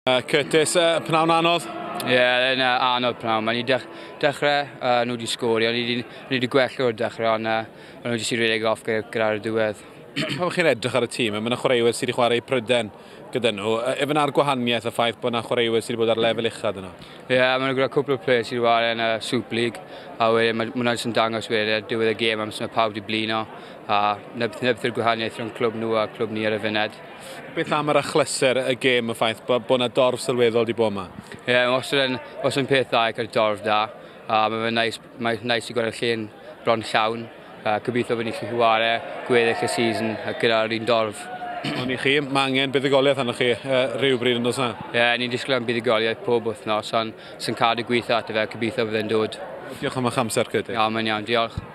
Uh, Curtis, uh, pnawn anodd? Ie, yeah, yn uh, anodd pnawn. Mae ni dech, dechrau, uh, nhw wedi sgori, ond ni wedi gwell o'r dechrau, ond uh, nhw wedi sy'n rhedeg off gyda'r diwedd. Pan chi'n edrych ar y tîm, mae yna chwaraewyr sydd wedi chwarae pryden gyda nhw. Efe yna'r gwahaniaeth y ffaith bod yna chwaraewyr sydd wedi bod ar lefel uchaf yno? Ie, yeah, mae yna gyda cwpl o players sydd wedi chwarae yn y uh, Super League, a wedyn mae hwnna'n sy'n dangos wedyn ar diwedd y gêm am sy'n pawb wedi blino, a neb, neb gwahaniaeth rhwng clwb nhw a clwb ni ar y fyned. Beth am yr achlysur y gêm, y ffaith bod bo yna dorf sylweddol wedi bod yma? Ie, yeah, os yn, os yn peth dda i cael dorf da, a mae fe'n nice, mae nice i gweld y llun bron llawn. Uh, gobeithio bod ni'n gallu chwarae gweddill y season gyda'r un dorf. Ond i chi, mae angen buddugoliaeth arnoch chi uh, rhywbryd yn dos na? Ie, yeah, ni'n disgwyl am buddugoliaeth pob wythnos, ond sy'n cadw gweithio at y fe, gobeithio byddai'n dod. Diolch am eich amser, Cydyn. Iawn, mae'n iawn, diolch.